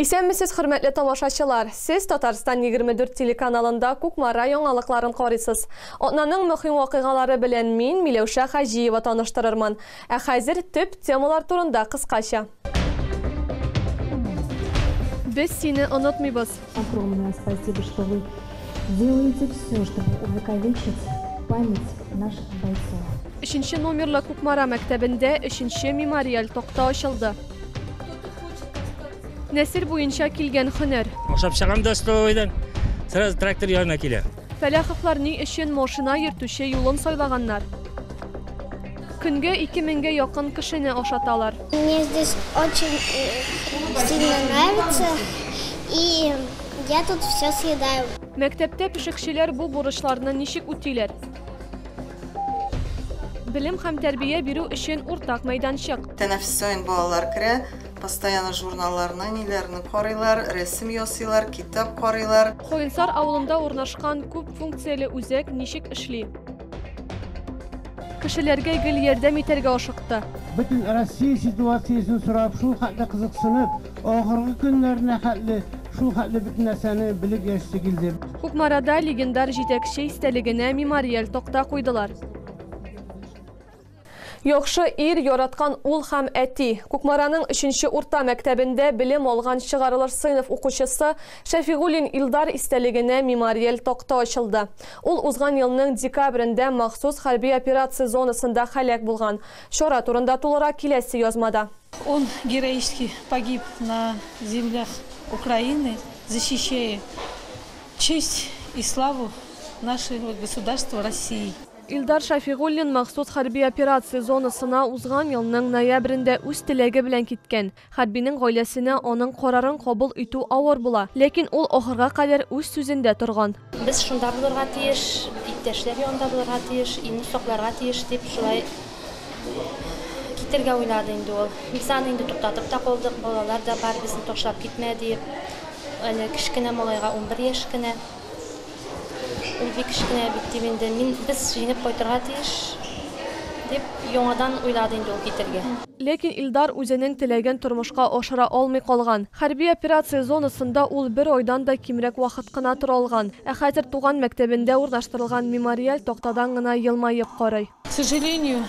Исәнмесез, хөрмәтле тамашачылар! Сез Татарстан 24 телеканалында Кукмара яңалыкларын карыйсыз. Атнаның мөһим вакыйгалары белән мин, Миләүшә Хаҗиева таныштырырмын. Ә хәзер төп темалар турында кыскача. Без сине онытмыйбыз! Огромное спасибо, что вы делаете все, чтобы увековечить память наших бойцов. Өченче номерлы Кукмара мәктәбендә өченче мемориаль такта ачылды. Нәсел буенча килгән хөнәр. Ашап чыгам да столовойдан, сразу трактор янына килә. Фәләховлар ни өчен машина йөртүче юлын сайлаганнар? Көнгә ике меңгә якын кешене ашаталар. Мне здесь очень э, сильно нравится, и я тут все съедаю. Мәктәптә пешекчеләр бу бурычларны ничек үтиләр? Белем һәм тәрбия бирү өчен уртак мәйданчык. Тәнәфестә балалар керә, Постоянно журналларны, ниләрне карыйлар, рәсем ясыйлар, китап карыйлар. Каенсар авылында урнашкан күп функцияле үзәк ничек эшли? Кешеләргә гел ярдәм итәргә ашыкты. Бөтен Россия ситуациясен сорап, шул хәтле кызыксынып, ахыргы көннәренә хәтле шул хәтле бөтен нәрсәне белеп яшисе килде. Кукмарада легендар җитәкче истәлегенә мемориаль такта куйдылар. Яхшы ир, яраткан ул һәм әти. Кукмараның өченче урта мәктәбендә белем алган чыгарылыш сыйныф укучысы Шәфигуллин Илдар истәлегенә мемориаль такта ачылды. Ул узган елның декабрендә махсус хәрби операция зонасында һәлак булган. Чара турында тулырак киләсе язмада. Он героически погиб на землях Украины, защищая честь и славу нашего государства России. Илдар Шәфигуллин махсус хәрби операция зонасына узган елның ноябрендә үз теләге белән киткән. Хәрбинең гаиләсенә аның карарын кабул итү авыр була, ләкин ул ахырга кадәр үз сүзендә торган. Без шунда булырга тиеш, иптәшләр янында булырга тиеш, илне сакларга тиеш, дип шулай китәргә уйлады инде ул. Без аны инде туктатып та калдык, балалар да бар, безне ташлап китмә, диеп. Әле кечкенә малайга унбер яшь кенә. Ул бик кечкенә бит, дип инде мин, без җиңеп кайтырга тиеш, дип яңадан уйлады инде ул китергә. Ләкин Илдар үзенең теләген тормышка ашыра алмый калган. Хәрби операция зонасында ул бер айдан да кимрәк вакыт кына тора алган. Ә хәзер туган мәктәбендә урнаштырылган мемориаль тактадан гына елмаеп карый. К сожалению,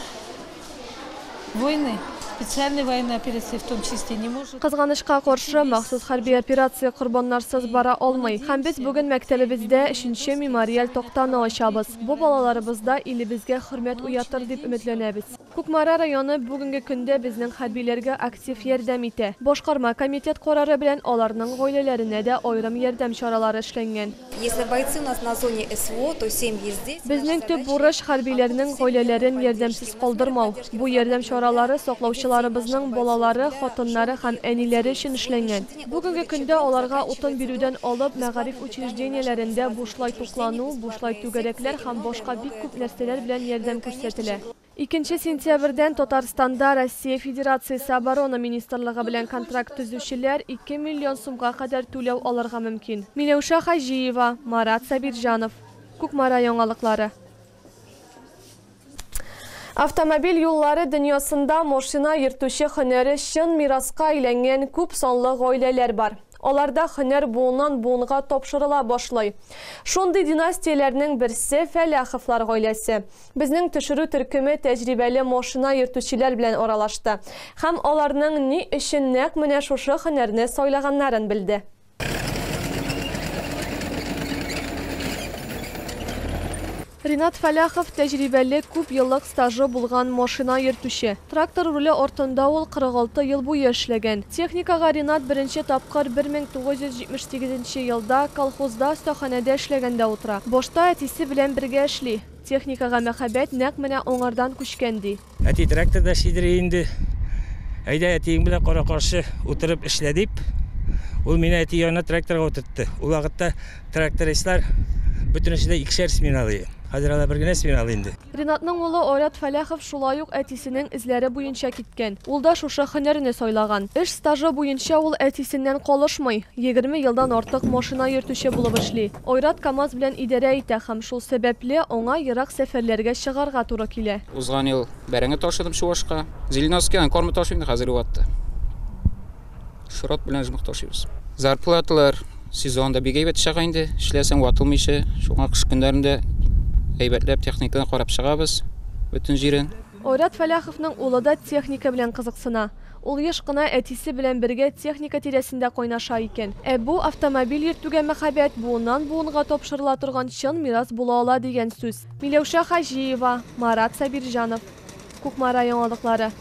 войны, специальные военные операции в том числе, не может. Кызганычка каршы, махсус хәрби операция корбаннарсыз бара алмый. Һәм без бүген мәктәлебездә өченче мемориаль тактаны ачабыз. Бу балаларыбызда илебезгә хөрмәт уятыр дип өметләнәбез. Кукмара районы бүгенге көндә безнең хәрбиләргә актив ярдәм итә. Башкарма комитет карары белән аларның гаиләләренә дә аерым ярдәм чаралары эшләнгән. Если бойцы у нас на зоне СВО, то семьи здесь. Безнең төп бурыч, хәрбиләрнең гаиләләрен ярдәмсез калдырмау. Бу ярдәм чаралары саклаучыларыбызның балалары, хатыннары һәм әниләре өчен эшләнгән. Бүгенге көндә аларга утын бирүдән алып, мәгариф учреждениеләрендә бушлай туклану, бушлай түгәрәкләр һәм башка бик күп нәрсәләр белән ярдәм күрсәтелә. Икенче сентябрьдән Татарстанда Россия Федерациясе Оборона министрлыгы белән контракт төзүчеләр ике миллион сумга кадәр түләү алырга мөмкин. Миләүшә Хаҗиева, Марат Сабирҗанов. Кукмара яңалыклары. Автомобиль юллары дөньясында машина йөртүче һөнәре чын мираска әйләнгән күп санлы гаиләләр бар. Аларда һөнәр буыннан буынга тапшырыла башлый. Шундый династияләрнең берсе, Фәләховлар гаиләсе. Безнең төшерү төркеме тәҗрибәле машина йөртүчеләр белән аралашты һәм аларның ни өчен нәкъ менә шушы һөнәрне сайлаганнарын белде. Ринат Фәләхов, тәҗрибәле, күп еллык стажы булган машина йөртүче. Трактор руле артында ул 46 ел буе эшләгән. Техникага Ринат беренче тапкыр 1978 елда колхозда остаханәдә эшләгәндә утыра. Башта әтисе белән бергә эшли. Техникага мәхәббәт нәкъ менә аңардан күчкән, ди. Әти, трактор да сидери инде. Әйдә, әтиең белән кара-каршы утырып эшлә, дип, ул мине әти янына тракторга утыртты. Ул вакытта трактористлар бөтенесе дә икешәр смена алый. Хәзер алар бер генә смена алый инде. Ринатның улы Айрат Фәләхов шулай ук әтисенең эзләре буенча киткән. Ул да шушы һөнәрне сайлаган. Эш стажы буенча ул әтисеннән калышмый, егерме елдан артык машина йөртүче булып эшли. Айрат КАМАЗ белән идарә итә һәм шул сәбәпле, аңа ерак сәфәрләргә чыгарга туры килә. Узган ел бәрәңге ташыдым Чувашка. Зеленовскидан корма ташыйм хәзерге вакытта. Шрот белән жмых ташыйбыз. Зарплаталар сезонда бик әйбәт чыга инде. Эшләсәң ватылмыйча. Шуңа кыш көннәрендә әйбәтләп техниканы карап чыгабыз бөтен җирен. Айрат Фәләховның улы да техника белән кызыксына. Ул еш кына әтисе белән бергә техника тирәсендә кайнаша икән. Ә бу, автомобиль йөртүгә мәхәббәт буыннан-буынга тапшырыла торган чын мирас була ала дигән сүз. Миләүшә Хаҗиева, Марат Сабирҗанов. Кукмара яңалыклары.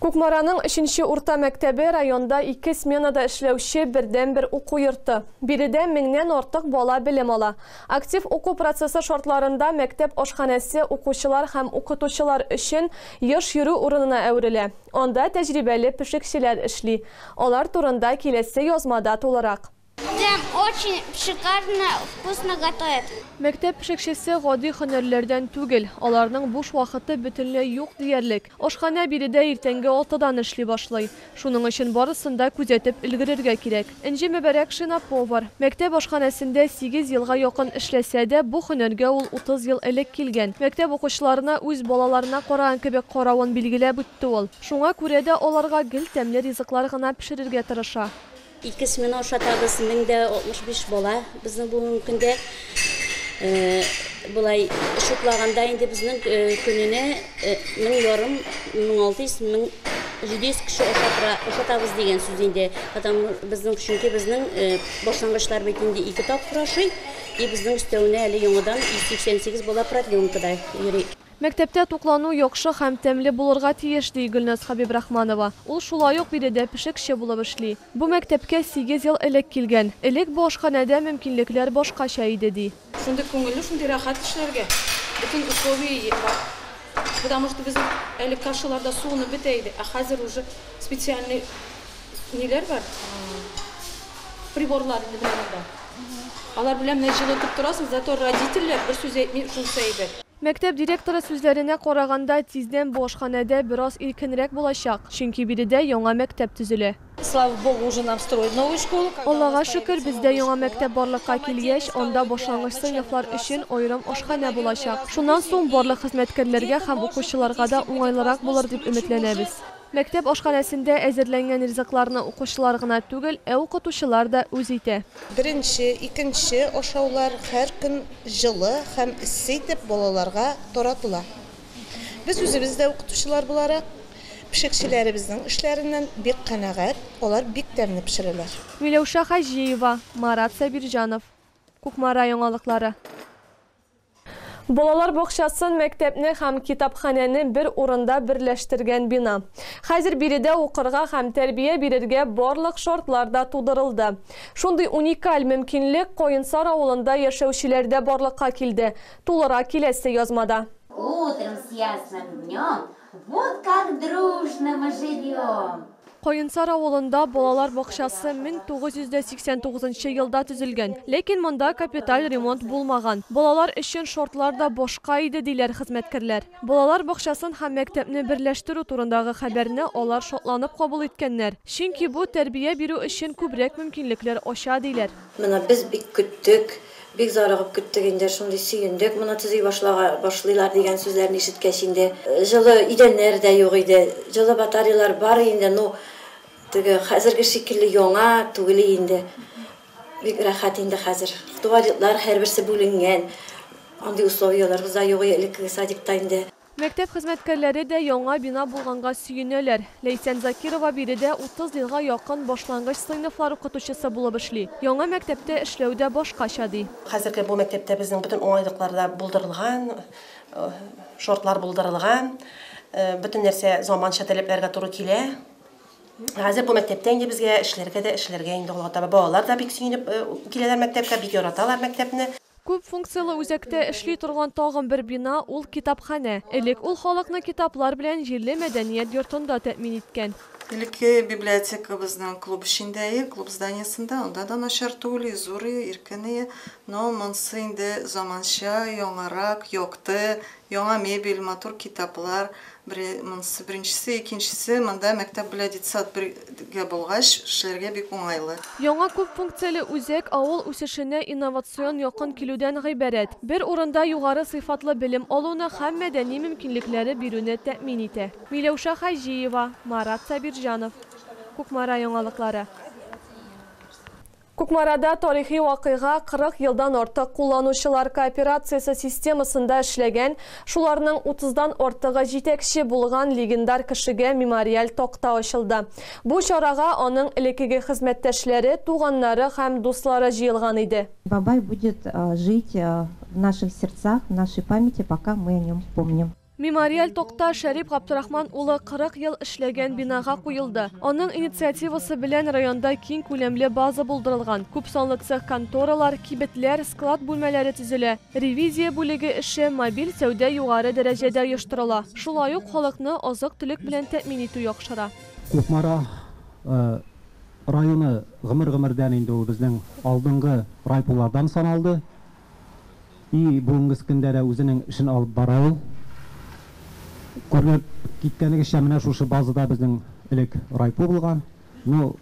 Кукмараның өченче урта мәктәбе, районда ике сменада эшләүче бердәнбер уку йорты. Биредә меңнән артык бала белем ала. Актив уку процессы шартларында мәктәп ашханәсе укучылар һәм укытучылар өчен еш йөрү урынына әверелә. Анда тәҗрибәле пешекчеләр эшли. Алар турында киләсе язмада тулырак. Тәм, очень шикарно, вкусно готовят. Мәктәп пешекчесе гади һөнәрләрдән түгел, аларның буш вакыты бөтенләй юк диярлек. Ашханә биредә иртәнге алтыдан эшли башлый. Шуның өчен барысын да күзәтеп өлгерергә кирәк. Энҗе Мөбарәкшина, повар. Мәктәп ашханәсендә сигез елга якын эшләсә дә, бу һөнәргә ул утыз ел элек килгән. Мәктәп укучыларына үз балаларына караган кебек каравын билгеләп үтте ул. Шуңа күрә дә аларга гел тәмле ризыклар гына пешерергә тырыша. Ике смена ошатабыз, 1065 бала безнең бүгенге көндә. Болай шуплаганда инде безнең көненә 1000 ярым, 1600, 1700 кеше ошатабыз дигән сүз инде. Потому безнең чөнки безнең башлангычлар бит инде ике тапкыр ашый, и безнең өстәвенә әле яңадан 188 бала продленкада йөри. Мәктәптә туклану яхшы һәм тәмле булырга тиеш, ди Гөлназ Хәбибрахманова. Ул шулай ук биредә пешекче булып эшли. Бу мәктәпкә сигез ел элек килгән. Элек бу ашханәдә мөмкинлекләр башкача иде, ди. Шундый күңелле, шундый рәхәт эшләргә. Бөтен условие е бар. Потому что без әле кашаларда суынып бетә иде, ә хәзер уже специальный ниләр бар, приборлар инде менә монда. Алар белән менә җылытып торасың, зато родительләр бер сүз әйтми, шунысы әйбәт. Мәктәп директоры сүзләренә караганда, тиздән бу ашханәдә бераз иркенрәк булачак, чөнки биредә яңа мәктәп төзелә. Аллага шөкер, бездә яңа мәктәп барлыкка килгәч, анда башлангыч сыйныфлар өчен аерым ашханә булачак. Шуннан соң барлык хезмәткәрләргә һәм укучыларга да уңайлырак булыр дип өметләнәбез. Мәктәп ашханәсендә әзерләнгән ризыкларны укучылар гына түгел, ә укытучылар да үз итә. Беренче, икенче ашаулар һәр көн җылы һәм эссе итеп балаларга таратыла. Без үзебез дә укытучылар буларак, пешекчеләребезнең эшләреннән бик канәгать, алар бик тәмле пешерәләр. Миләүшә Хаҗиева, Марат Сабирҗанов, Кукмара яңалыклары. Балалар бакчасын, мәктәпне һәм китапханәне бер урында берләштергән бина. Хәзер биредә укырга һәм тәрбия бирергә барлык шартлар да тудырылды. Шундый уникаль мөмкинлек Каенсар авылында яшәүчеләрдә барлыкка килде, тулырак киләсе язмада. Утром с ясным днем Вот как дружно мы живем! Каенсар авылында балалар бакчасы 1989 нчы елда төзелгән. Ләкин монда капиталь ремонт булмаган. Балалар өчен шартлар да башка иде, диләр хезмәткәрләр. Балалар бакчасын һәм мәктәпне берләштерү турындагы хәбәрне алар шатланып кабул иткәннәр, чөнки бу тәрбия бирү өчен күбрәк мөмкинлекләр ача, диләр. Менә без бик көттек. Бик зарыгып көттек инде, шундый сөендек, моны төзи башлага башлыйлар дигән сүзләрне ишеткәч инде. Җылы идәннәр дә юк иде, җылы батареялар бар инде, ну, теге хәзерге шикелле яңа түгели инде. Бик рәхәт инде хәзер. Туалетлар һәрберсе бүленгән, андый условияләрбез дә юк иде элеккеге садикта инде. Мәктәп хезмәткәрләре дә яңа бина булганга сөенәләр. Ләйсән Закирова биредә утыз елга якын башлангыч сыйныфлар укытучысы булып эшли. Яңа мәктәптә эшләү дә башкача, ди. Хәзерге бу мәктәптә безнең бөтен уңайлыклар да булдырылган, шартлар булдырылган. Бөтен нәрсә заманча таләпләргә туры килә. Хәзер бу мәктәптә инде безгә эшләргә дә эшләргә инде алга таба. Балалар да бик сөенеп киләләр мәктәпкә, бик яраталар мәктәпне. Күп функцияле үзәктә эшли торган тагын бер бина, ул китапханә. Элек ул халыкны китаплар белән җирле мәдәният йортында тәэмин иткән. Элекке библиотекабызның клуб эчендәе, клуб зданиесында, анда да начар түгел, изурые, иркенные, но монсы инде заманча, яңарак, якты, Яңа мебель, матур китаплар, бере монсы беренчесе, икенчесе монда мәктәп белән детсад бер гә булгач, эшләргә бик уңайлы. Яңа күп функцияле үзәк авыл үсешенә инновацион якын килүдән гыйбарәт. Бер урында югары сыйфатлы белем алуны һәм мәдәни мөмкинлекләре бирүне тәэмин итә. Миләүшә Хаҗиева, Марат Сабирҗанов, Кукмара яңалыклары. Кукмарада тарихи вакыйга 40 елдан артык кулланучылар кооперациясе системасында эшләгән, шуларның утыздан артыгы җитәкче булган легендар кешегә мемориаль такта ачылды. Бу чарага аның элеккеге хезмәттәшләре, туганнары һәм дуслары җыелган иде. Бабай будет жить в наших сердцах, в нашей памяти, пока мы о нем помним. Мемориаль такта Шәрип Габдрахман улы 40 ел эшләгән бинага куелды. Аның инициативасы белән районда киң күләмле база булдырылган, күпсанлы цех-конторалар, кибетләр, склад бүлмәләре төзелә, ревизия бүлеге эше, мобиль сәүдә югары дәрәҗәдә оештырыла. Шулай ук халыкны азык-төлек белән тәэмин итү яхшыра. Кукмара районы гомер-гомердән инде ул безнең алдынгы райпулардан саналды. И бүгенгес көндә дә үзенең эшен алып бара ул. Күренеп киткәнегезчә, менә шушы базада безнең элек райпо булган. Ну,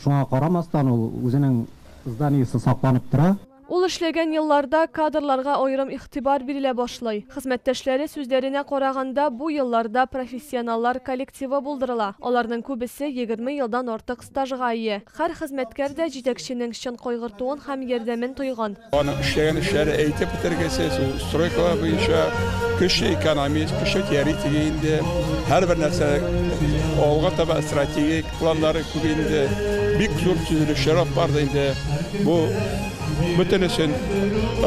шуңа карамастан ул үзенең зданиесе сакланып тора. Ул эшләгән елларда кадрларга аерым игътибар бирелә башлый. Хезмәттәшләре сүзләренә караганда, бу елларда профессионаллар коллективы булдырыла, аларның күбесе егерме елдан артык Стажга ия. Хәр хезмәткәр дә җитәкченең чын кайгыртуын һәм ярдәмен тойган. Аның эшләгән эшләре әйтеп бетергесез, ул стройкалар буенча көчле экономист, көчле теоретик инде. Һәрбер нәрсә алга таба стратегик планнары күп инде. Бик зур төзелешләр алып барды инде. Бу бөтенесен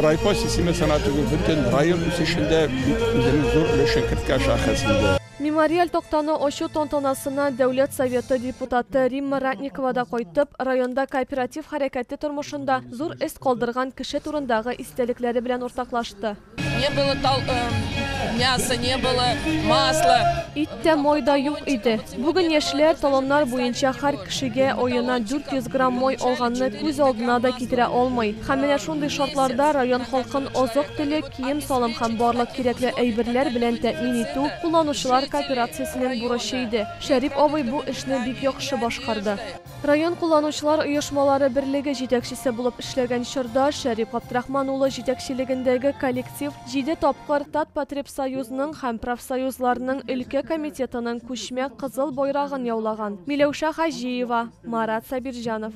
райпо системасына түгел, бөтен район үсешендә бик үзенең зур өлешен керткән шәхес инде. Мемориаль тактаны ачу тантанасына Дәүләт Советы депутаты Римма Ратникова да кайтып, районда кооператив хәрәкәте тормышында зур эз калдырган кеше турындагы истәлекләре белән уртаклашты. Не было тал, э, мяса, не было масла. Ит тә, май да юк иде. Бүген яшьләр талоннар буенча һәр кешегә аена 400 грамм май алганны күз алдына да китерә алмый. Һәм менә шундый шартларда район халкын азык-төлек, кием-салым һәм барлык кирәкле әйберләр белән тәэмин итү кулланучылар кооперациясенең бурычы иде. Шәрип абый бу эшне бик яхшы башкарды. Район кулланучылар оешмалары берлеге җитәкчесе булып эшләгән чорда Шәрип Габдрахман улы җитәкчелегендәге коллектив җиде тапкыр Татпотребсоюзның һәм профсоюзларның өлкә комитетының күчмә Кызыл Байрагын яулаган. Миләүшә Хаҗиева, Марат Сабирҗанов.